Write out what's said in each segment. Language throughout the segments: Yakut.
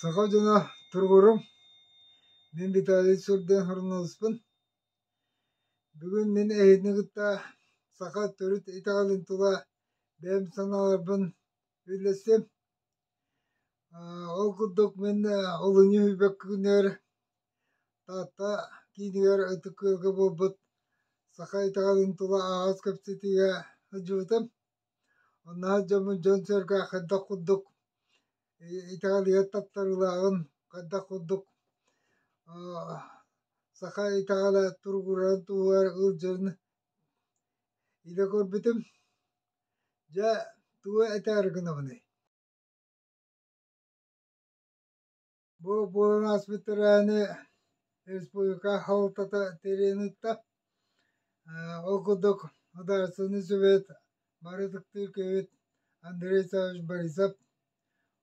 Саха дьоно туругурум, мин Виталий Сурден Хурналыспын. Бүгүн мин эһини кытта саха төрүт итэҕэлин тула бэйэм санааларбын үллэстим. Ол курдук мин олунньу үһүбэк күнүгэр Таатта киинигэр ытык ыалга буолбут саха итэҕэлин тула аҕыс кэпсэтиигэ сылдьыбытым. Оннооҕор дьоммун дьон-сэргэ хайдах курдук итэҕэлигэр таттарыылааҕын хайдах курдук саха итэҕэлэ туругурарын туһугар ыалдьарын илэ көрбүтүм. Дьэ, тугу этээр гынабыный Бу буолан ааспыт тэрээһини республика салалтата тэрийэн ыытта. Ол курдук Судаарыстыбаннай Сүбэт барытыктыыр киһибит Андрей Исаевич Борисов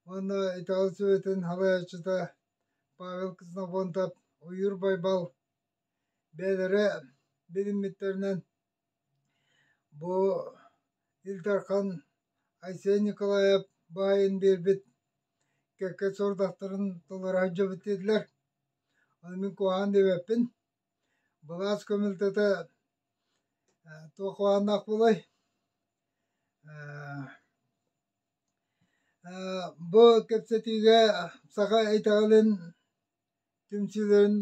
уонна Италия Сүбэтин салайааччыта Павел Ксенофонтов Уйур Байбал бэйэлэрэ билиммиттэринэн Бу Ил Дархан Айсен Николаев баайын биэрбит кэккэ сорудахтарын толоро сылдьабыт диэтилэр. Аны мин куһаҕан диэбэппин. Былаас көмөлтөтө э, туох куһаҕаннаах буолай? Э, э, бу кэпсэтиигэ саха итэҕэлин түмсүүлэрин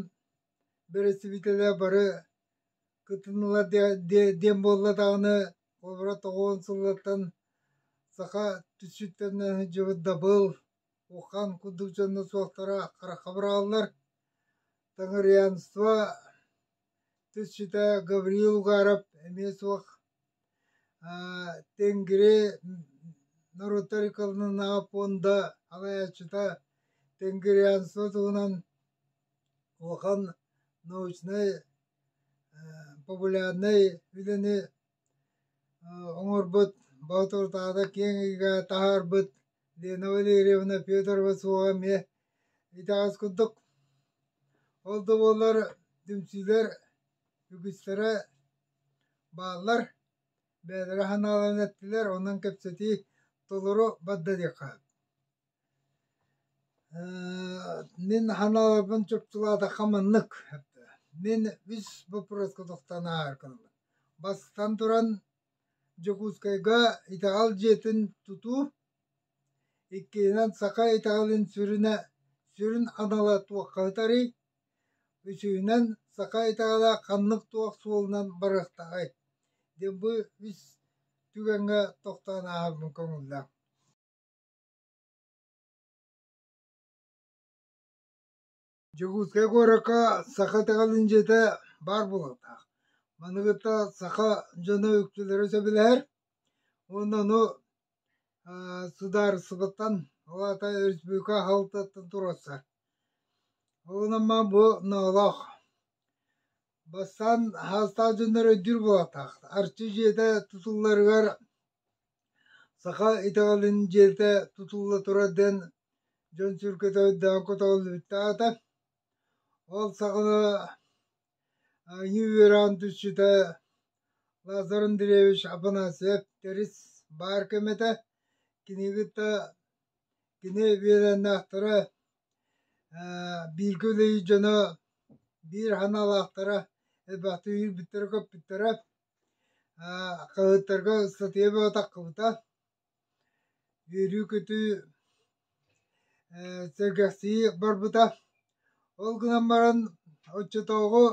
бэрэстэбиитэлэ бары кыттыннылар диэн буолла даҕаны холобура тоҕуон сылыттан саха түссүттэн сылдьыбыт дабыл ухан курдук дьонно суохтара харахха бырааллар таҥырианство түссүтэ гавриил угаров эмиэ суох тенгри норуттар иконынааҕы пуонда аҕайаччыта тенгрианство туһунан улахан научнай, популярнай үлэни оҥорбут, балтыбытаата киэҥ эйгэҕэ таһаарбыт Лена Валерьевна Петрова суоҕа эмиэ итэҕэс курдук. Ол да буоллар түмсүүлэр үгүстэрэ бааллар, бэйэлэрэ санааларын эттилэр, онон кэпсэтии толору барда диэххэ сөп Мин ханааларбын чуптулаатахха маннык, мин үс боппуруоска тохтоон ааһар гынабын. Бастатан туран Дьокуускайга итэҕэл дьиэтин тутуу, иккиһинэн саха итэҕэлин сүрүнэ сүрүн анала туохха ыытарый, үсүһүнэн саха итэҕэлэ ханнык туох суолунан барыахтааҕай диэн бу үс түгэҥҥэ тохтоон ааһарбын көҥүллээх. Дьокуускай куоракка саха итэҕэлин дьиэтэ баар буолуохтаах. Маны кытта саха дьоно үксүлэрэ сөбүлэһэр. Уонна ону аа, судаарыстыбаттан, ол аата өрөспүүбүлүкэ аһалтаттан туруорсар. Ол манан бу ноолоох. Бастаан саастаах дьоннор өйдүүр буолуохтаах. Арчы дьиэтэ тутулларыгар Саха итэҕэлин дьиэтэ тутулла турар диэн дьон сүргэтэ өйдөөн көтөҕүллүбүттэр аата. Ол саҕана айыы үөрэҕин түсчүтэ Лазар Андреевич Афанасьев Тэрис баар кэмэтэ кинигитэ кини биэрэннээхтэрэ бииргэ үлэлиир дьоно биир санаалаахтара элбэхтик үөрбүттэрэ көппүттэрэ Аа, хаһыаттарга ыстатыйа баҕатаххыбыта, үөрүү-көтүү, ээ, сэргэхсийии барбыта. Ол гынан баран, оччотооҕу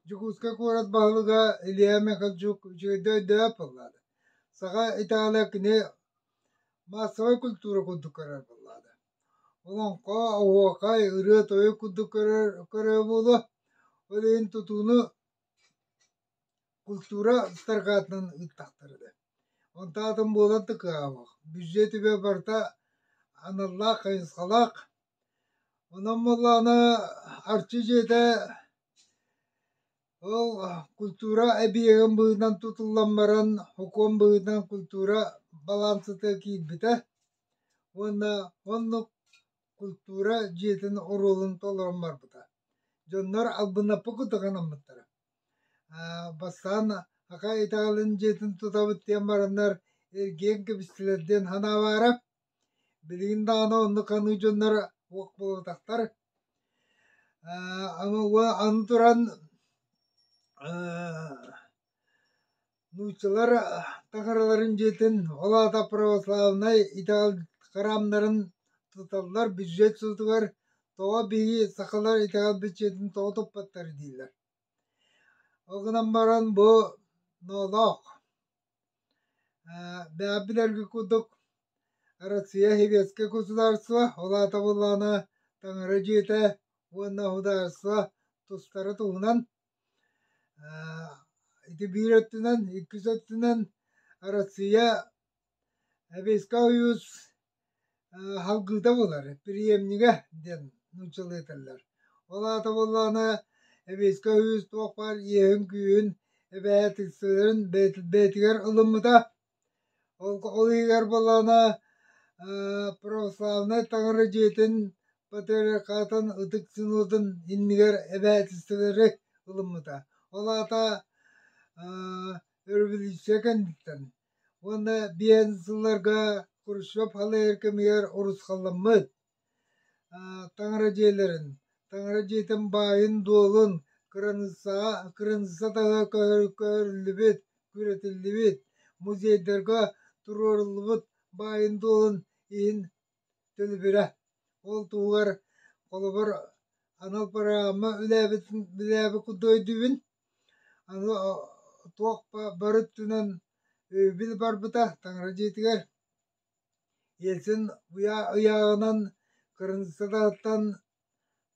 Дьокуускай куорат баһылыга Илья Михальчук үчүгэйдик өйдөбөт буоллаада. Саха Италия кини маассабай культура курдук көрөр буоллаада. Олоҥхо, оһуохай, ырыа-тойук курдук көрөр, көрөр буолуо. Ол иһин тутууну культура ыстарҕаатынан ыыттахтар этэ онтон атын буолан тыкаабах бүзье түбэ барыта аналлаах хайысхалаах онон буоллаҕына арчы дьиэтэ ол культура эбийиэгин быһыытынан тутуллан баран окуон быһыытынан культура балансыта киирбитэ уонна оннук культура дьиэтин оруолун толорон барбыта дьоннор албыннаппыт кытта гынаммыттара Бастаан ака Италин дьиэтин тутабыт диэн бараннар эргиэн кэбистилэр диэн санаабаара. Билигин даҕаны оннук ханыы дьоннор уох буолбатахтар. Ама уо аны туран нууччалар таҥараларын дьиэтин, ол аата православнай итал храмнарын туталлар бүддьүөт суутугар тоҕо биһиги сахалар итэҕэл бүддьүөтүн тоҕо туппаттар дииллэр. Ол гынан баран бу ноолоох бэйэ билэргэ курдук Россия Советское государство, ол аата буоллаҕына таҥара дьиэтэ уонна судаарыстыба тустара туһунан Ити биир өттүнэн, иккис өттүнэн Россия Советскай Союз салгыыта буолар, приемнига диэн нууччалыы этэллэр. Ол аата буоллаҕына Советскай Союз туох баар иэһин-күүһүн эбэһээтиксэлэрин бэйэтигэр ылыммыта Ол иһигэр буоллаҕына православнай таҥара дьиэтин патриархатын ытык синодун иннигэр эбээтинсэлэри ылыммыта. Ол аата өрөбөлүүссүйэ кэнниттэн уонна биээн сылларга Хрущев халыйар кэмигэр урусхалламмыт. Таҥара дьиэлэрин, таҥара дьиэтин баайын-дуолун кыраныыссаҕа кыраныысса таҥа көһөрүллүбүт, күрэтиллибит, музейдарга туруоруллубут баайын-дуолун иһин төлөбүрэ. Ол туһугар, холобур, анал программа үлээбитин үлээбит курдук өйдүүбүн. Аны туох бары өттүнэн өйөбүл барбыта таҥара дьиэтигэр. Ельцин ыйааҕынан кырыымсататтан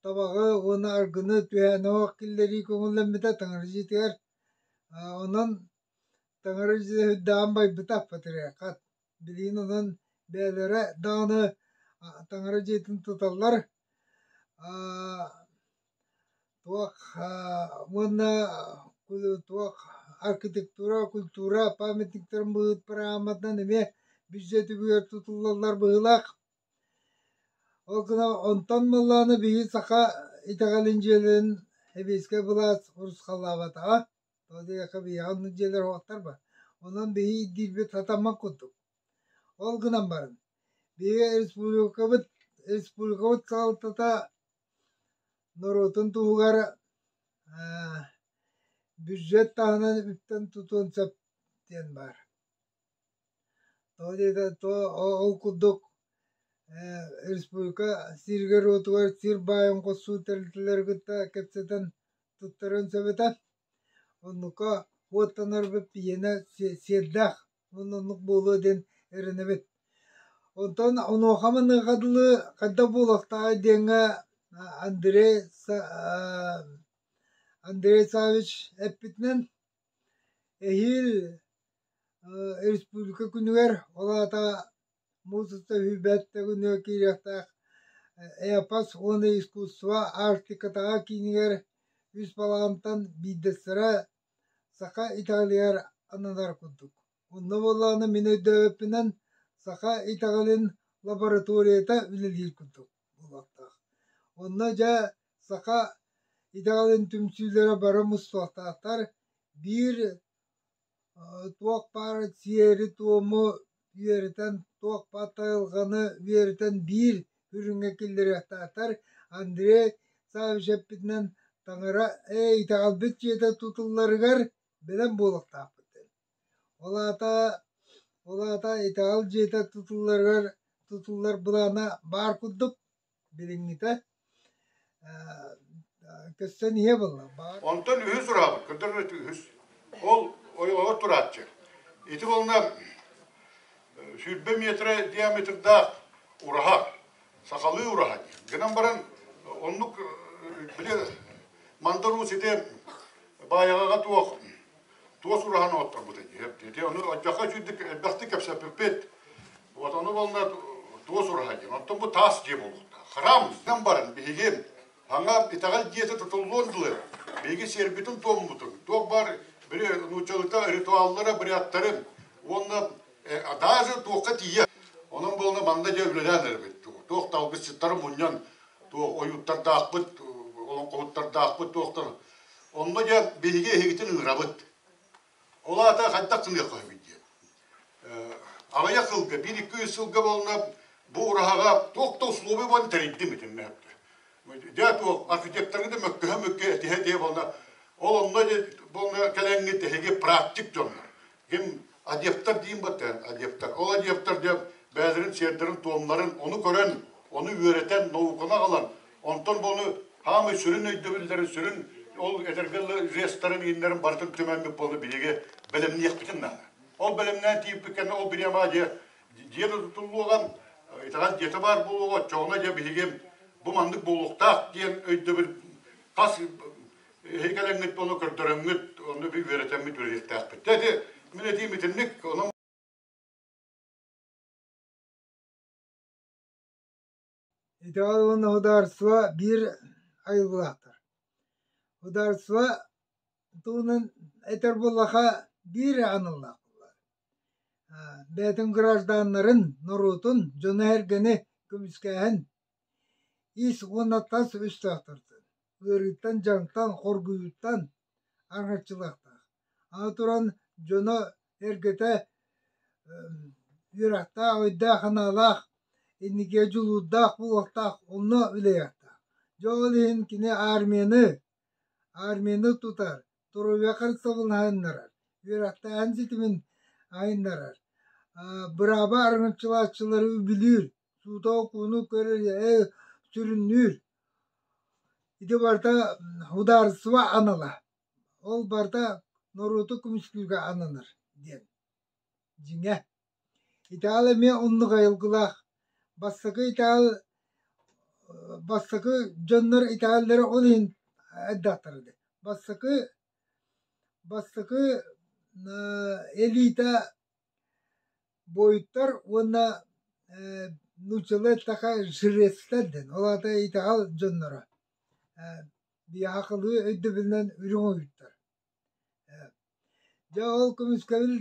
табаҕы уонна аргыны түһээн оһох киллэрии көҥүллэммитэ таҥарадьытыгар онон таҥарадьыта үрдэҕин байбыта патриархат билигин онон бэйэлэрэ даҕаны таҥара дьиэтин туталлар Туох уонна туох архитектура, культура памятниктарын быһыытпар аамматынан эмиэ бүддьүөтүгэр тутуллаллар быһыылаах. Ол гынан онтон буоллаҕына биһиги саха итэҕэлин дьиэлэрин сэбиэскэй былаас урусхаллаабатаҕа. Ол диэки биһиэхэ оннук дьиэлэр суохтарба. Онон биһиги ирдиирбит сатаммат курдук. Ол гынан баран биһиги республикабыт республикабыт салалтата норуотун туһугар бюджет таһынан үптэн тутуон сөп диэн баар. Тоҕо диэтэр ол курдук республика сииригэр-уотугар сиир баайын хосуу тэрилтэлэри кытта кэпсэтэн туттарыан сөп этэ. Оннука уоттанарбыт иэнэ сиэрдээх. Мун оннук буолуо диэн эрэнэбит. Онтон онуоха маныаха дылы хайдах буолуохтаах диэҥҥэ Андрей Андрей Савич эппитинэн эһиил республика күнүгэр ол аата муус уста сүүрбэт күнүгэр киириэхтээх эпос уонна искусство Арктикатааҕы киинигэр үс балаҕантан биирдэстэрэ Саха итэҕэлигэр ананар курдук. Онно буоллаҕына мин өйдөөбүппүнэн, саха итэҕэлин лабораторията үлэлиир курдук буолуохтаах. Онно дьэ саха итэҕэлин түмсүүлэрэ бары мустуохтаахтар. Биир туох баар сиэри-туому үөрэтэн туох-бат айылҕаны үөрэтэн биир үрүҥҥэ киллэриэхтаахтар Андрей Саввич эппитинэн таҥара «Ээ итэҕэлбит дьиэтэ тутулларыгар бэлэм буолуохтаахпыт» Ол аата ол аата итэҕэл дьиэтэ тутулларыгар тутуллар былаана баар курдук билиҥҥитэ көстөн ийэ буолла баар онтон үһүс ураабыт көрдөрбөт үһүс ол ойоҕор турааччы ити буолна сүүрбэ метрэ диаметрдаах ураһа сахалыы ураһа гынан баран оннук били мандаруу сити баайаҕаҕа туох туос ураһан оттормутун иһип дии. Ону отдьахха үчүйдүк элбэхтик кэпсэппиппит. Вот ону болла туос ураһа диэн. Оттон бу таас дьиэ буолуохтаах. Храм, дэн барын биһигин. Аңа итэҕэл дьиэтэ тутуллуон дылы. Биһиги сиэрбитин туоммутун. Туох бар бiri нууччалыкта ритуаллара бриаттарын уонна даже туохка тиийэ. Онон болна манна дьэ үлэлээн эрбит. Туох талгысчыттары мунньан туох ойуттардаахпыт, олоҥхоһуттардаахпыт, туохтар Онно дьэ биһиги эһигитин ыҥырабыт. Ол аата хайдах гыныахха үһү диэн. Аҕыйах сылга, биир-икки сылга буолунар бу ураһаҕа туох да условия буолан тэрийдим этим мөһөптө. Дьэ туох архитекторгыда мөккөһө-мөккө этиһэ-этиһэ буолла. Ол онно дьэ буолна кэлэҥҥит эһиги практик дьоннор. ким адептар диин баттаан адептар ол адептар диэн бэйэлэрин сиэрдэрин туомнарын ону көрөн ону үөрэтэн науканы аҕалан онтон буну хаамай сүрүн өйдөбүллэрин сүрүн ол этэргэллы жестарын ииннэрин барытын түмэммит буолу биһиги бэлэмниэхпитин наада ол бэлэмнээн тииппиккэнне ол бириама дьиэ дьиэ да тутуллуоҕан итаҕас дьиэтэ баар буолуоҕа чоҕуна дьэ биһиги бу маннык буолуохтаах диэн өйдөбүл хас Эһиги кэлэҥҥит буолан көрдөрөммүт, онно би үөрэтэммит үлэлиэхтээхпит. Дэ ити мин этиим итинник, онон Итиҕэр уонна ударство биир айыллыахтар. Ударство туунан этэр буллаха биир аналлаах буллар. Бээтин гражданнарын, норуотун дьону-эргэни көмүскээһин ис уонна тас үстөөхтөрдүн. ыарыыттан, дьаҥтан, хоргуйууттан арҕаччылаахтаах. Аны туран дьоно эргэтэ үөрэхтээх, өйдөөх-санаалаах, инникигэ дьулуурдаах буолуохтаах, онно үлэлиэхтээх. Дьэ ол иһин кини армияны, армияны тутар, туруйа харыстабылын айыннарар, үөрэхтээһин ситимин айыннарар, бырааба аргынчылааччылары үбүлүүр, суута окууну көрөр ээ сүрүннүүр ити барыта судаарыстыба анала ол барыта норуоту көмүскүүргэ ананар диэн дьиҥэ итаал эмиэ оннук айылгылаах бастакы итаал бастакы дьоннор итааллары ол иһин айдахтара дэ бастакы бастакы элита Буойтар уонна ээ нууччалыы такая жрецтэр диэн, ол аата итэҕэл дьонноро ээ биаахылыы өйдөбүлүнэн үрүҥ ойуурдар ээ дьэ ол көмүскэбил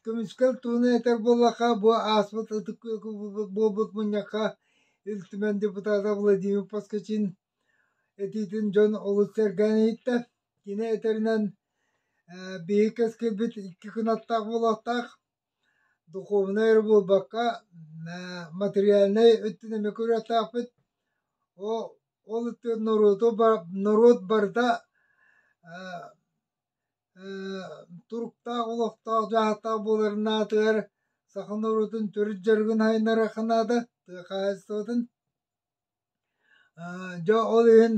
көмүскэл туһунан этэр буоллахха бу ааспыт ытык буолбут мунньахха Ил Түмэн депутата Владимир Поскачин Итиитин дьон олус сэргээн иһиттэ. Кини этэринэн, ээ биһиги кэскилбит икки кынаттаах буолуохтаах. Духуобунай эрэ буолбакка, ээ материальнай өттүн эмиэ көрүөхтээхпит. Оо ол өттүгэр норуоту ба- норуот барыта ээ ээ туруктаах олохтоох дьаһалтаах буоларын аатыгар саха норуотун төрүт дьарыгын сайыннарыахха наада, тыа хаһаайыстыбатын Дьэ ол иһин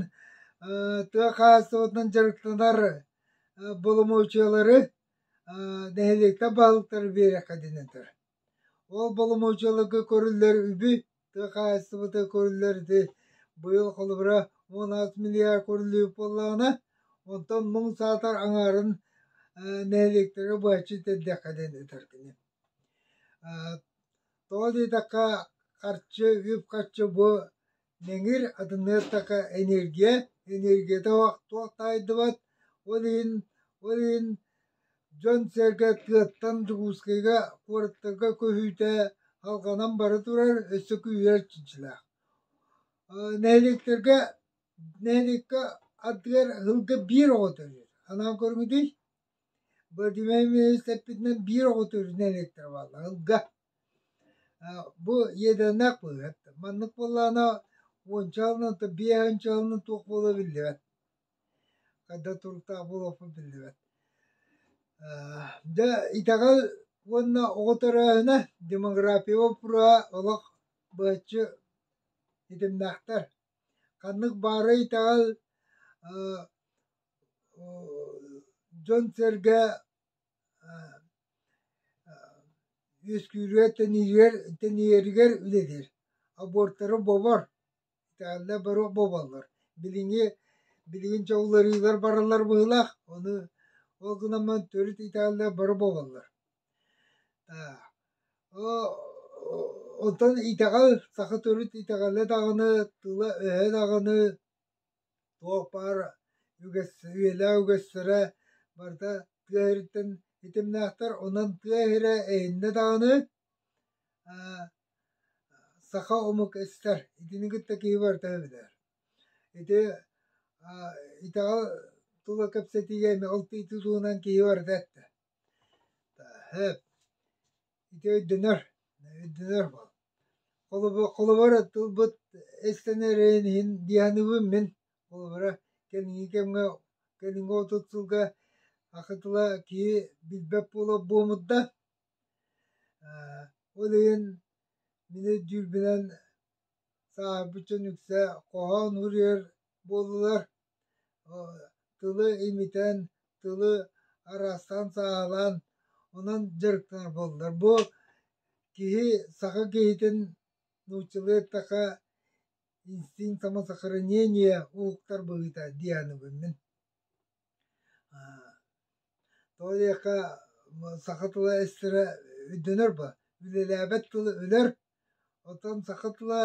тыа хаһаайыстыбатынан дьарыктанар боломуочуйалары нэһилиэктэр баһылыктара биэриэххэ диэн этэр. Ол боломуочуйаларга көрүллэр үбү, тыа хаһаайыстыбата көрүллэр ити быйыл холобура он аҕыс миллиард көрүллүбүт буоллаҕына, онтон муҥ саатар аҥаарын нэһилиэктэргэ быһаччы тиэрдиэххэ диэн этэр кини. Тоҕо диэтэххэ, харчы, үп-харчы бу нэҥир атыныыртака энергия, энергията туох таайдыбат, ол иһин ол иһин дьон-сэргэ тыаттан Дьокуускайга, куораттарга көһүүтэ алҕанан бара турар өссө күүһүрэр чинчилээх. Нэһилиэктэргэ нэһилиэккэ ардыгар ыһылга биир оҕо төрүөт. Анаан көрүҥүтүй? Бородуумай министрпитинэн биир оҕото үрүнэ иликтэрэ буолла ылга. Бу ядернай быыһыт. Маннык буоллаҕына уонча сылынан то биэс уонча сылынан туох буолуо биллибэт. Ханна туруктаах буолуохпун биллибэт. Дьэ итэҕэл уонна оҕо төрөөһүнэ демография боппуруоһа олох быһаччы ситимнээхтэр. Ханнык баарый итэҕэл дьон-сэргэ үөскүүрүгэр тэнийэригэр тэнийэригэр үлэлиир аборттары бобор итиэннэ бары боболлор билиҥҥи билигин дьэ уларыылар бараллар быһыылаах ону ол гынан төрүт итиэннэ бары боболлор онтон итэҕэл саха төрүт итэҕэлэ даҕаны тыла-өһө даҕаны Туох баар үгэс, үйэлээх үгэстэрэ барыта тыа иһириттэн итимнээхтэр. Онон тыа иһирэ эһиннэ даҕаны аа саха омук истэр. Итини кытта киһи барыта билэр. Ити аа итэҕэл тула кэпсэтиигэ эмиэ ол тыытыы туһунан киһи барыта эттэ. Тааһыт, ити өйдөнөр, өйдөнөр буол. Холобур, холобура тылбыт эстэнэрин иһин дьаһаныбын мин. Холобура, кэнники кэмҥэ, кэнники отут сылга аҕа тыла киһи билбэт буола буомурда. Ээ, ол иһин мин өйдүүрбүнэн сааһырбыт дьон үксэ хоһоон уруйар буоллулар. тылы имитэн, тылы араастаан сааһылаан, онон дьарыктанар буоллулар. Бу киһи саха киһитин нууччалыаттаха инстинкт самосохранения ууктар быһыыта дианыбын мин. Тоҕо диэхэ саха тыла эстэрэ өйдөнөр ба, үлэлээбэт тылы өлөр Оттон саха тыла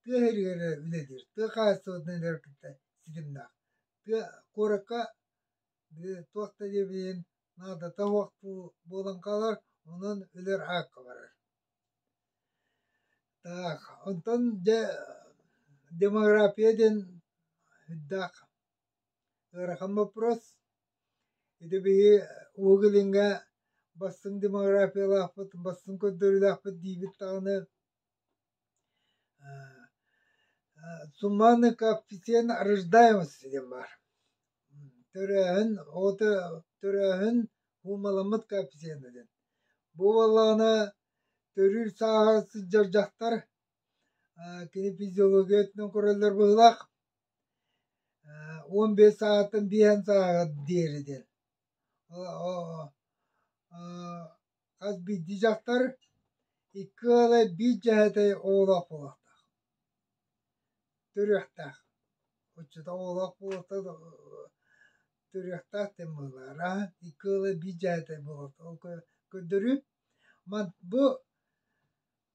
тыа иһигэр үлэлиир. Тыа хаһаайыстыбатын иһигэр кытта ситимнээх. Тыа куоракка туох да диэбиин наадата суох буолан хаалар, онон өлөр аакка барар. Так, онтон дьэ демография диэн сүрдээх Ыарахан боппуруос. Ити биһи Уһук Илиҥҥэ бастыҥ демографиялаахпыт, бастыҥ көрдөрүүлээхпит диибит даҕаны сумманный коэффициент рождаемости диэн баар. Төрөөһүн, оҕото төрөөһүн ууmaламмыт коэффициента диэн. Бу буоллаҕына төрүүр сааһа сылдьар дьахтар кини физиология өттүнэн көрөллөр быһыылаах. уон биэс саҕаттан биэһэн сааҕа диэри диэн хас биирдии дьахтар икки ыала биир дьэһэтэ оҕолоох буолуохтаах төрүөхтээх отчута оҕолоох буолуохтаах төрүөхтээх диэн быһылаара икки ыала биир дьэһэтэ буолуохтаах ол көрдөрүү бу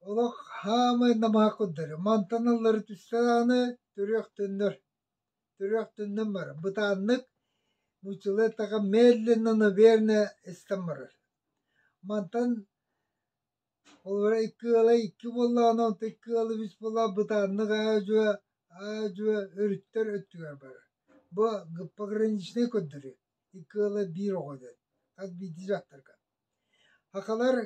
Олох хаамай намаакырдары мантаналлары түстэ даҕаны түрүөхтөннөр түрүөхтөннөн барар бытааннык мучилеттаҕа медленно наверное истэн барар мантан холобура икки ыала икки буоллаҕына онто икки ыала үс буолла бытааннык аа-дьуо аа-дьуо өрүттэр өттүгэр барар бу гиппограничнай көрдөрүү икки ыала биир оҕо диэн хас биирдии дьахтарга Акалар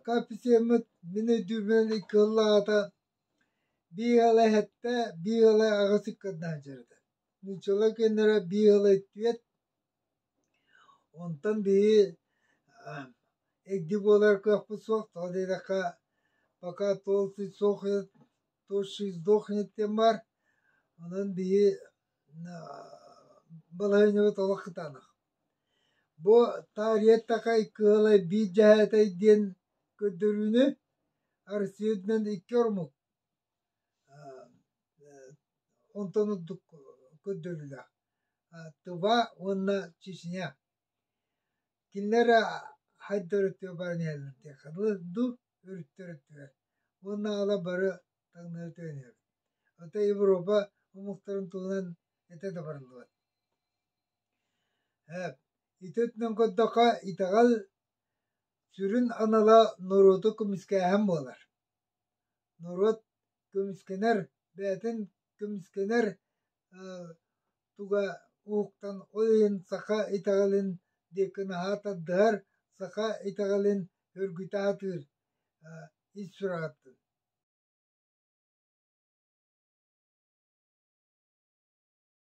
капитеммыт мин өйдүүмүн иккыллаата биир ыла эһэттэ биир ыла аҕыс ыккардаан дьарыта нууччалар көннөрө биир ыла үттүөт онтон биһи эгди буолар кыахпыт суох тоҕо диэтэххэ пока толстый сохнет тощий сдохнет диэн баар онон биһи балаһыанньабыт олох кытаанах Бу Таарыйаттакай Кыылай биир дьэһээтэй диэн көрдөрүүнү Арсенынан икки омук онтон ордук көрдөрүүлээх Тыва уонна Чечня. Кинилэр хайдах өрүттүгэр баран иһэллэр дуу өрүттэр өттүгэр уонна ала бары таҥнары төнөбүт. Ата Европа омуктарын туһунан этэ да барыллыбат Һээп, ити өттүнэн көрдөххө, итэҕэл сүрүн анала норуоту көмүскээһин буолар. Норуот көмүскэнэр, бэйэтин көмүскэнэр туга уһуктан ол иһин саха итэҕэлин диэки наһаа тардыһар, саха итэҕэлин өргүтэ сатыыр ис сураҕыттан.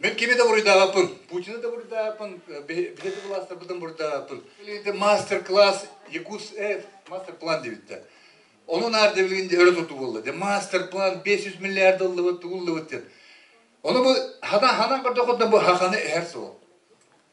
Мен кими да буруйдаабаппын, Путина да буруйдаабаппын, биһиги властарбытын буруйдаабаппын. Мастер-класс Якутс Эд мастер-план дебиттер. Ону наарда билгин өрө тутуу болла. Де мастер-план 500 миллиард долларбыт тууллыбыт ден. Оны бу хана хана көрдөхөттөн бу хаканы эһэр сол.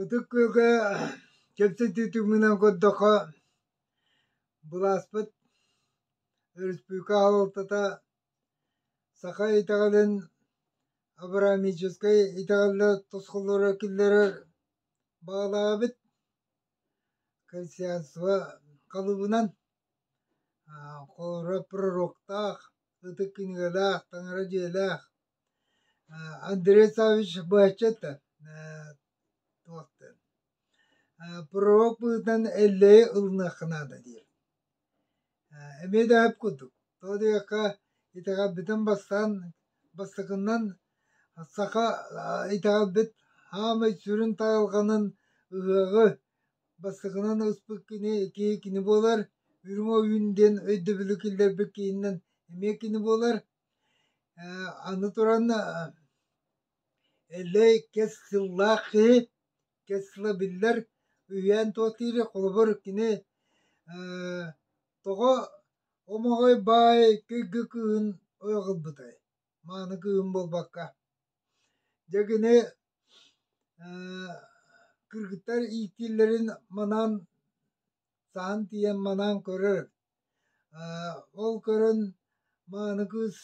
Ытык Күөлгэ кэпсэтии түмүгүнэн көрдөххө, былааспыт өрөспүүбүлүкэ аһылтата саха итэҕэлин абрамическай итэҕэллэр тосхоллоро киллэрэр баҕалаабыт консенсуса халыбынан Куорат пророктаах, ытык кинигэлээх, таҥара дьиэлээх Андрей Саввич баччата пророк быһыытынан эллэйи ылыныахха наада диир. Эмиэ дэһэр курдук, тоҕо диэххэ итэҕэл бүтэн бастаан бастакынан саха итэҕэлбит хаамай сүрүн таралҕанын ыһыаҕы Бастакынан ааспыт кини киһи кини буолар, үрүҥ ойуун диэн өйдөбүлү киллэрбит киһинэн эмиэ кини буолар. Э, аны туран э, Эллэй кэс сыллаах киһи, кэс сыла биллэр, үһээн туотиири холобур кини э, тоҕо омоҕой баай кыйгы кыыһын ойоҕолбутай? мааны кыым буолбакка. Дьэ кини кыргыттар ииттииллэрин манаан саһан тиийэн манаан көрөр. Ол көрөн мааны кыыс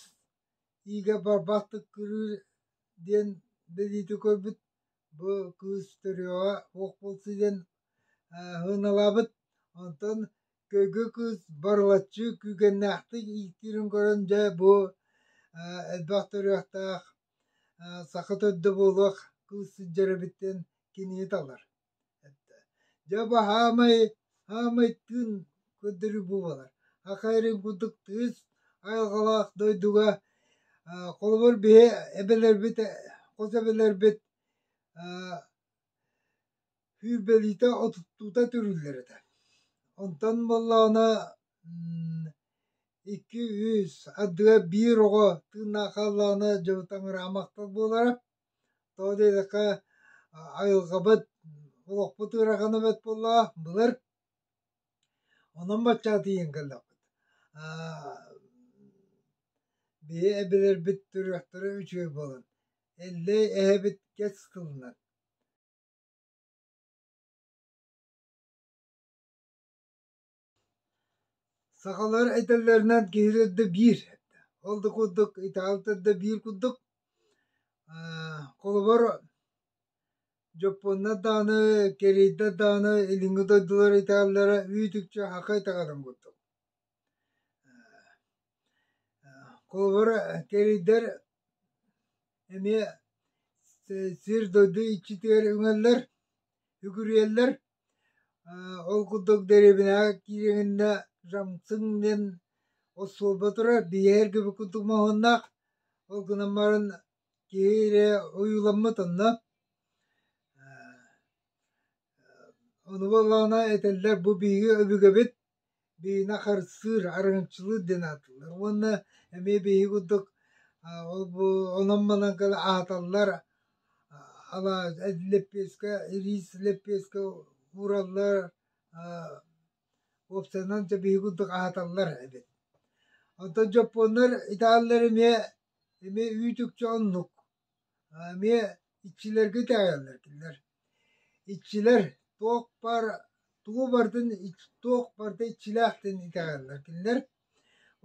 иигэ барбаттык күрүүр диэн бэлиити көрбүт бу кыыс төрүөҕэ суох буолсу диэн һыыналаабыт. Онтон Кыгы кыыс Барылаччы күүгэннээхтик ииктиирин көрөн дьэ бу элбэх төрүөхтээх саха төрдө буолуох кыыс сылдьар эбиттэн кинини талар. Дьэ бу хаамай хаамайтыын көрдөрүү буолар. Аха эрин курдук тыыс айылҕалаах дойдуга холобур биһи эбэлэрбит хос эбэлэрбит Сүүрбэлиитэ отуттуута түрүллэр этэ. Онтон буоллаҕына икки үс ардыгар биир оҕо тыыннаах хааллаҕына дьэ таҥыраамахтар буолара. Тоҕо диэтэххэ айылҕабыт олохпут ыарахана бэрт буоллаҕа былыр. Онон бачча тиийэн кэллэхпит. Биһи эбэлэрбит төрүөхтэрэ үчүгэй буолан, эллэй эһэбит кэс кылынан Сахалар этэллэринэн киһи да биир, ол да курдук итаҕалтар да биир курдук. Холобур, дьоппуоннар даҕаны, кэриэйдэр даҕаны, илиҥҥи дойдулар италлара үүт-үкчү аха итаҕатын курдук. Холобур, кэрийдэр эмиэ сир-дойду иччитигэр үҥэллэр, үкүрүйэллэр. Ол курдук дэриэбинэҕэ киириэҥинэ Жамцин диэн остуолба турар, биэһэргэ курдук моһуоннаах, ол гынан баран киһи эрэ ойууламмыт онно. Ону буоллаҕына этэллэр бу биһиги өбүгэбит биһиэнэ харыстыыр, арыҥаччылыыр диэн аатыллар. Уонна эмиэ биһиги курдук ол онон-манан аһаталлар, лэппиэскэ, рис лэппиэскэ уураллар, уопсайынан биһиги курдук аһаталлар эбит. Оттон дьоппуоннар италлар эмиэ эмиэ үүт-үкчэ оннук. Эмиэ иччилэргэ итэҕэйэллэр этилэр. Иччилэр туох баар тугу барытын туох барыта иччилээхтин итэҕэллэр этилэр.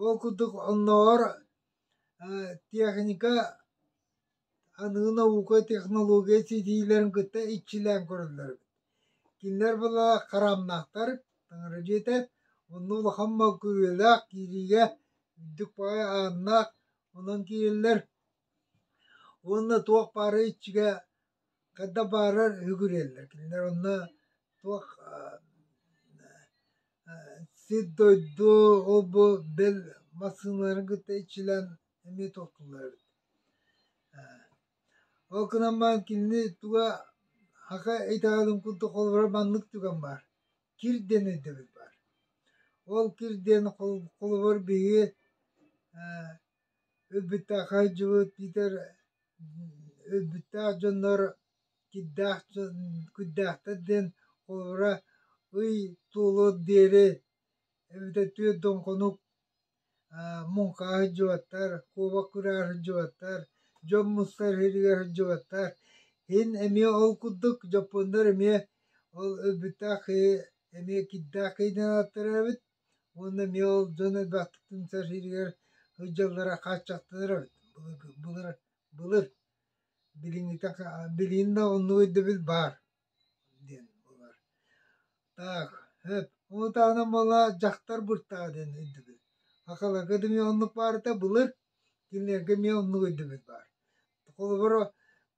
Ол курдук оннооҕор техника аныгы наука технология ситиилэрин кытта иччилээн көрөллөр эбит. Кинилэр була хараамнаахтар, таҥара дьиэтэ онно улахан мал күрүөлээх киириигэ үрдүк баҕайы ааннаах онон киирэллэр уонна туох баара иччигэ хайда баарар үгүрүйэллэр кинилэр онно туох сир дойду ол бу бэл массыыналарын кытта иччилэн эмиэ туоттуллар эбит ол гынан баран кинини туга хака итэҕэлин курдук холобура маннык түгэн баар кир диэн өйдөбүл баар ол кир диэн холобур биһиги Өлбүттээх айдьылыт Питер өлбүттээх дьоннор кирдээх куйдээхтэр диэн холобура ый туолуор диэри эбэтэ түөрт доҥхонук муҥхаа сылдьыбаттар, куобах кураар сылдьыбаттар, дьон мустар сиригэр сылдьыбаттар. Иһин эмиэ ол курдук дьоппуоннор эмиэ ол өлбүттээх киһи эмиэ кирдээх киһи диэн ааттанар эбит Уонна миэл дьон элбэхтиктин сэрсииригэр сылдьаллара хааччахтанар эбит. Былыр, былыр билиҥҥитэ билигин да оннук өйдөбүл баар диэн буолар. Так, сөп. Ол таһынан буола дьахтар быртаа диэн өйдөбүл. Акаларга да эмиэ оннук баар этэ былыр, кинилэргэ эмиэ оннук өйдөбүл баар. Холобур,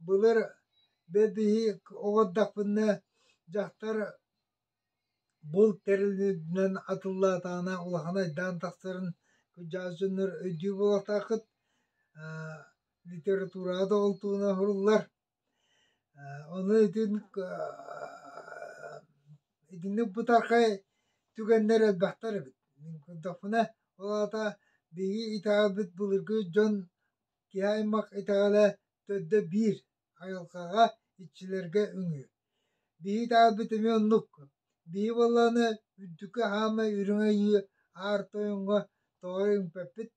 былыр бэт иһи оҕордохпуна дьахтар Булт тэрилинэн атыллаатаҕына улахан айдаан тахсарын кырдьаҕас дьоннор өйдүү буолуохтааххыт, литератураҕа да олтуна уһуруллар. Ону итин итинник бытархай түгэннэр элбэхтэр эбит. Мин көрдөхпүнэ, ол аата биһиги итэҕэлбит былыргы дьон киһи аймах итэҕэлэ төрдө биир. Айылҕаҕа, иччилэргэ үҥүү. Биһи таалбыт эмиэ оннук. Биһи буоллаҕына үрдүкү хаамай үрүҥэйии аар тойоҥҥо тоҕо үҥпэппит,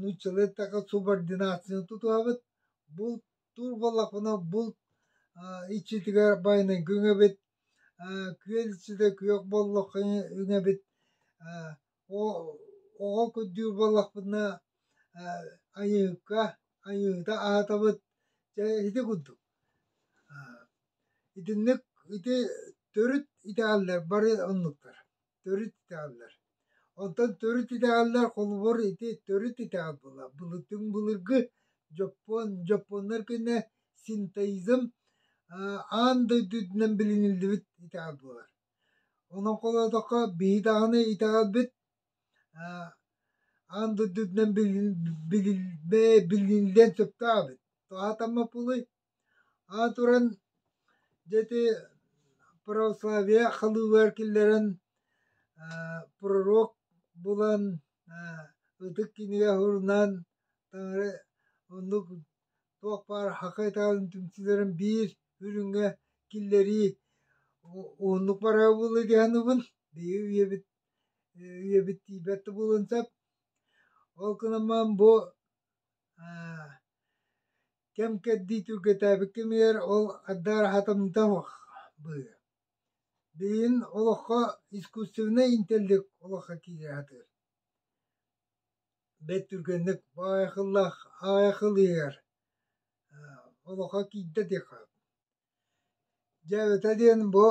нууччалыыттака субординацияны тутуһабыт, бул тур буоллахпына бул иччитигэр байанайга үҥэбит, күөл иччитэ күөх буоллахха үҥэбит, Оҕо көрдүүр буоллахпына айыыка, айыыта аһатабыт. Дьэ ити курдук. Итинник ити төрүт итэҕэллэр бары оннуктар. Төрүт итэҕэллэр. Онтон төрүт итэҕэллэр холобур ити төрүт итэҕэл буолла. Былытыҥ былыргы дьоппуон дьоппуоннар күнэ синтоизм аан дойду үрдүнэн билиниллибит итэҕэл буолар. Олоҥхолоотоххо биһи даҕаны итэҕэлбит аан дойдутунан билиниллиэн сөптөөҕүбүт. Тоһоотоммоппулуй, аан туран дьэ ити православие халыылыгар киллэрэн пророк булан ытык кинигэ сурунаан таҥара оннук Туох баар хахыытаан түмсүүлэрин биир үрүҥҥэ киллэрии уһуннук барара буолуо дии саныыбын. Биһиги үйэбит үйэбит тиийбэт да буолуон сөп. Ол гынан бу кэм-кэрдии түргэтээбит кэмигэр ол аддаар хатамнытабах быһыы. Билигин олоххо искусственнай интеллект олоххо киирэ сатыыр. бэт түргэнник аайахыллаах аайахыл иһэр олохо киирдэ диэххэ дьэ эбэтэ диэн бу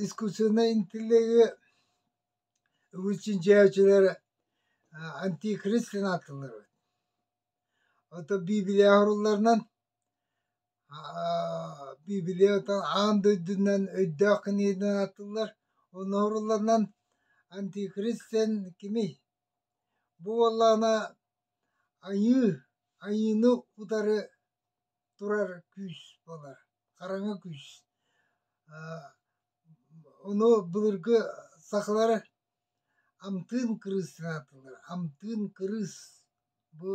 искусственнай интеллегы вычинчааччылар антикрист гына ааттыыллар эбит оттон биибилия оһорулларынан биибилия оттон аан дойдунан өйдөөх кинигэдэн ааттыыллар онно оһорулларынан антикрист диэн кимий Бу буоллаҕына айыы, айыыны утары турар күүс буолар, хараҥа күүс. Ону былыргы сахалар амтыын кырыыс аатылар. Амтыын кырыыс бу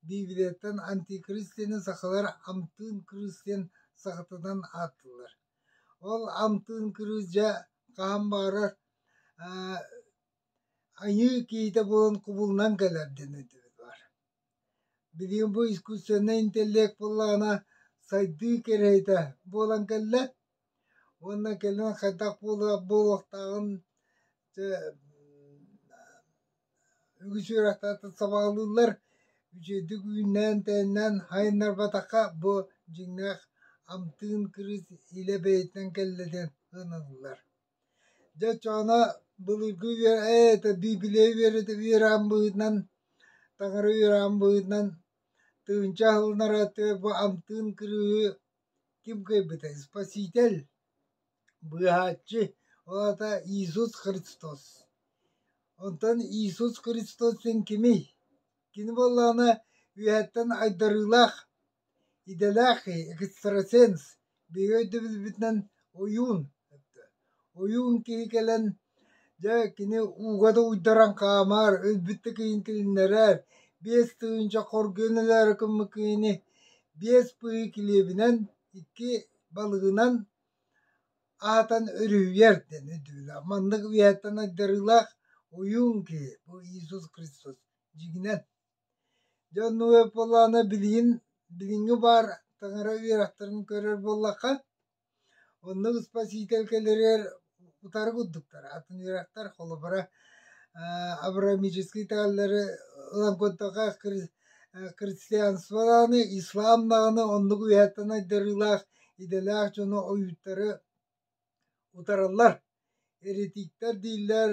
Библияттан антикрист диэни сахалар амтыын кырыыс диэн сахатынан ааттыыллар. Ол амтыын кырыыс дьэ хаһан баҕарар Айыы киһитэ буолан кубулунан кэлэр диэн этибит Билигин бу искусственнай интеллект буоллаҕына сайдыы кэриэһитэ буолан кэллэ уонна кэлин хайдах буолуохтааҕын үгүс үөрэхтээхтэр сабаҕалыыллар үчүгэйдик үүннээн-тээннээн айаннарбатахха бу дьиҥнээх амтыын кырыыс илэ бэйэтинэн кэллэ диэн сыаналыыллар Дьэ Чоона былыргы үө ээ это bii билиэ үөрэ үөрэҕин быһыытынан таҥара үөрэҕин быһыытынан тыһыынча аһылынара тыа бу амтыын кырыыһы ким кыайбытай Спаситель быыһааччы ол аата Иисус Христос онтон Иисус Христос син кимий кини буоллаҕына үөһэттэн айдарыылаах идэлээхий экстрасенс биһиги өйдөбүлбүтүнэн ойуун ойуун киһи кэлэн дьэ кини ууга да уйдаран хаамар өлбүт да киһини килиннэрэр биэс тыһыынча хоргуйан өлөөрү гыммыт киһини биэс быһыы килиэбинэн икки балыгынан аһатан өрүһүйэр диэн өйдөбүлэ маннык үйэттэн айдарыылаах ойуун киһи бу иисус христос дьиҥинэн Дьэ онно ыаппалаана билигин билиҥҥи баар таҥара үөрэхтэрин көрөр буоллахха, онно испоситель кэлэрэр утары курдуктар. Атын үөрэхтэр холобура э абрамический тааллары ылан көрдөххө хри- э христианстволааны, ислам даҕаны оннук үөһэттэн айдарыылаах идэлээх дьону ойууттары утараллар еретиктэр дииллэр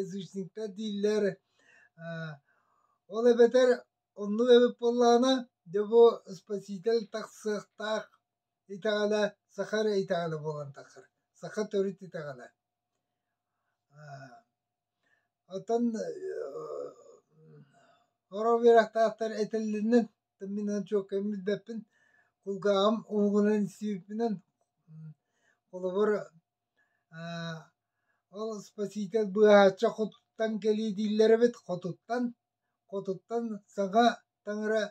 язычниктар дииллэр ол эбэтэр оннук эбит буоллаҕына дьэ бу спаситель тахсыахтаах итэҕэлэ саха эрэ итэҕэлэ буолан тахсар саха төрүт итэҕэлэ оттон хоро үөрэхтаахтар этэллэринэн Мин чуолкайын билбэппин, кулгааҕым уһугунан сиирбинэн, холобур, ол спаситель быыһаачча хотуттан кэлиэ дииллэр эбит, хотуттан, хотуттан саҥа таҥара,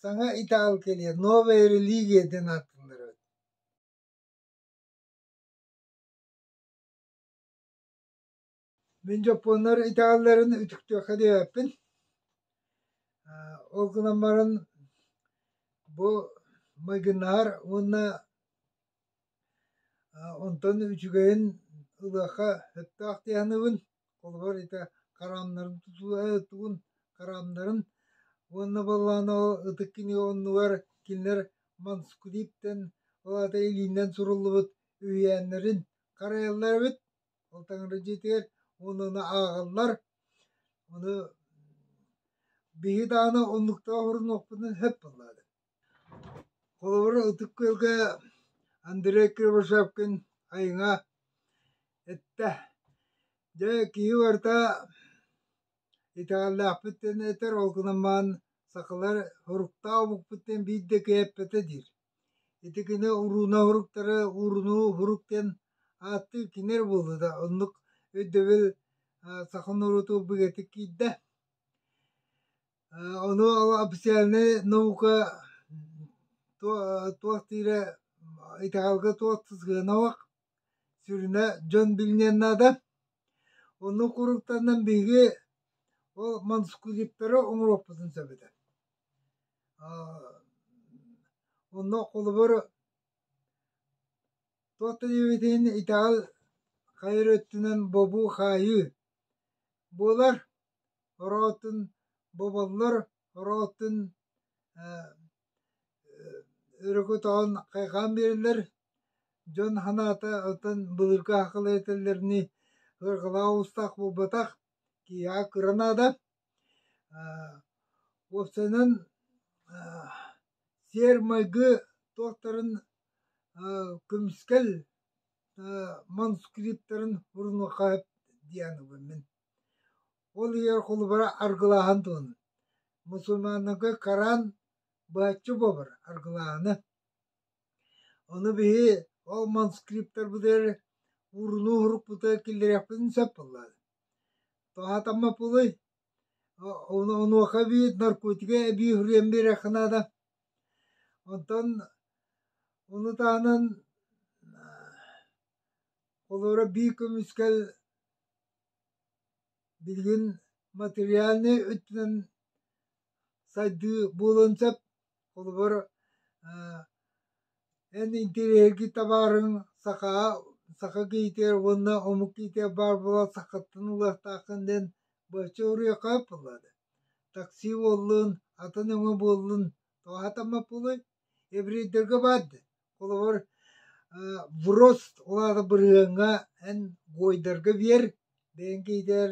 саҥа итаал кэлиэ, Новая религия диэн ааттыыллар эбит Мин дьоппуоннар италларын үтүктүөххэ диэбэппин. Ол гынан баран бу майгыннаһар уонна онтон үчүгэйин ылыахха сөптөөх дии саныыбын. Холобур ити хараамнарын тутуһугун хараамнарын уонна буоллаҕына ол ытык кини оннугар кинилэр Манскулиптан ол аата илиинэн суруллубут үһүйээннэрин харайаллар эбит. Ол таҥырдьытыгар онуну ааҕаллар. Ону биһи даҕаны оннуктаах орунуохпунун сөп буоллаҕа. Холобур, ытык күөлгэ Андрей Кривошапкин айыҥа эттэ. Дьэ, киһи барыта итэҕэллээхпит диэн этэр, ол гынан баран сахалар соруктаах омукпут диэн биир да киһи эппэтэ диир Ити гына урууна уһуруктары уурунуу уһурук диэн ааттыы кинилэр буолбута, оннук өйдөбүл саха норуоту бигэтик киирдэ. Ону официальнай наука туох диирэ итэҕэлгэ туох сыһыанабах сүрүнэ дьон билиниэн наада. Оннук уруктанан биһиги ол манускриптары оҥоруохпутун сөп этэ Онно холобур туох да диэбит иһин итэҕэл хайар өттүнэн бобуу хаайыы буолар, ороо оттон боболлор, ороо оттон өрүкү утаҕын хайҕаан биэрэллэр, дьон санаата оттон былыргы аһыкылай этэллэринии ыргылаах уустаах буолбатах, киһиэхэ кыра наада. Уопсайынан сиэр-майгы туортарын көмүскэл манускриптарын урунуохха сөп диэн мин. Ол иһигэр холобура аргылааһын туһунан. Мусульманнарга караан быһаччы буолбар аргылааһыны. Ону биһи ол манускриптарбытыгар урунуу урукпута киллэриэхпитин сөп буоллаҕа. Тоһатамма пулый, онуоха эбии наркотига эбии суруйан биэриэххэ наада. Онтон ону таһынан холуора бии көмүскэл билигин материальнай өттүнэн Сайдыы буолуон сөп. Холобур, эн интириэһиргии табаарыҥ сахаҕа саха киһитигэр уонна омук киһитигэр баар буолан сахаттан ылыахтааххын диэн бачча уруйахха ыппыллар. Такси буоллун, атын өҥө буоллун, тоһатаммат буолуой? Еврейдэргэ баар да. Холобур, врост улаата бырыһыаҥҥа эн гойдарга биэр, бэйэҥ киһитигэр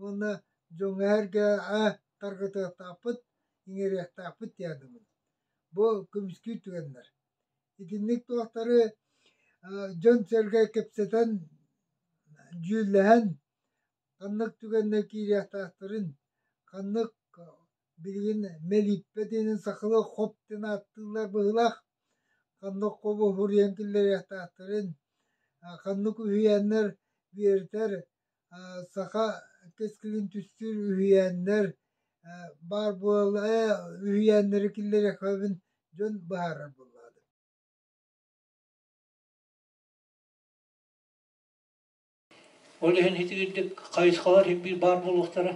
уонна дьоҥҥо эргэ э тарҕатыахтаахпыт иҥэриэхтээхпит тиэрдибит бу көмүскүү түгэннэр итинник туохтары дьон-сэргэ кэпсэтэн дьүүллэһэн ханнык түгэннэ киириэхтээхтэрин ханнык билигин мэлииппэтинин сахалыы хоп дэн ааттыыллар быһыылаах ханнык хобу хуруйан киллэриэхтээхтэрин ханнык үһүйээннэр биэртэр Саха кэскилин түстүүр үһүйээннэр баар буолуо үһүйээннэри киллэриэхпин дьон быһаарар буоллаҕына Ол иһин итигирдик хайысхалар иһин биир баар буолуохтара.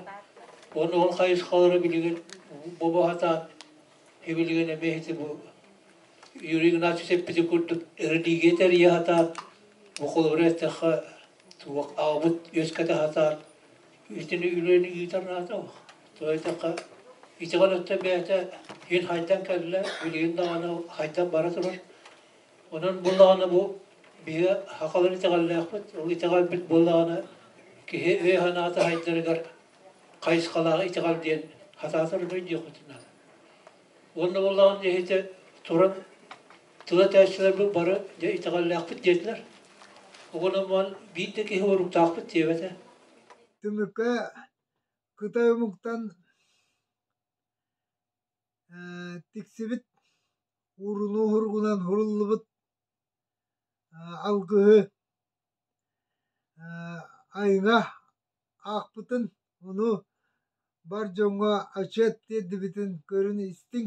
Уонна ол хайысхалары билигин бу баһатаан һибилигин эмиэ ити бу Юрий Игнатьевич эппити курдук эрэлиигэ тэрийэ сатаан бу холобура эттэххэ Туох аабыт үөскэтэ хатаар итини үлэни ыытар наада тоойдакка итиҕэн өттө бэйэтэ ин хайдан кэллэ билигин даҕаны хайдан бара турар онон буллаҕына бу биһи хахалар итэҕэллээхпит ол итэҕэлбит буоллаҕына киһи өй санаата хайдарыгар хайысхалааҕы итэҕэл диэн хатаатар дьиэхпитин наада уонна буллаҕына иһити туран Тыла тээссилэрбит бары дьэ итэҕэллээхпит диэтилэр. Оҕономмон биир да киһи уруктаахпыт диэбэтэ. Түмүккэ кытай омуктан тиксибит урunu уһургунан хуруллубут алгыһы айына аахпытын, ону бар дьоҥҥо ачыат тиэрдибитин көрүн истиҥ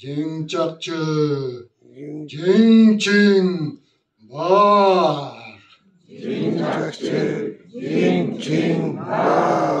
Дьиҥ чахчы, дьиҥ-чиҥ баар. Дьиҥ-чахчы, дьиҥ-чиҥ баар.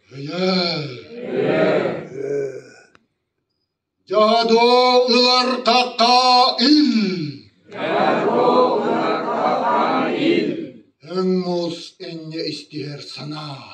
Дьоодо ылартахха ил Өҥ мус инньэ истиһэр санаа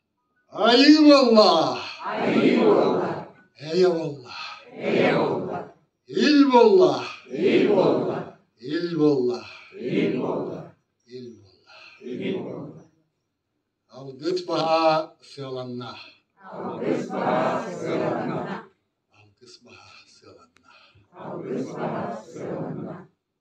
Айыы буолла! Эйэ буолла! Ил буолла! Ил буолла! Ил буолла! Алгыс баһаа сыаланна! Алгыс баһаа сыаланна!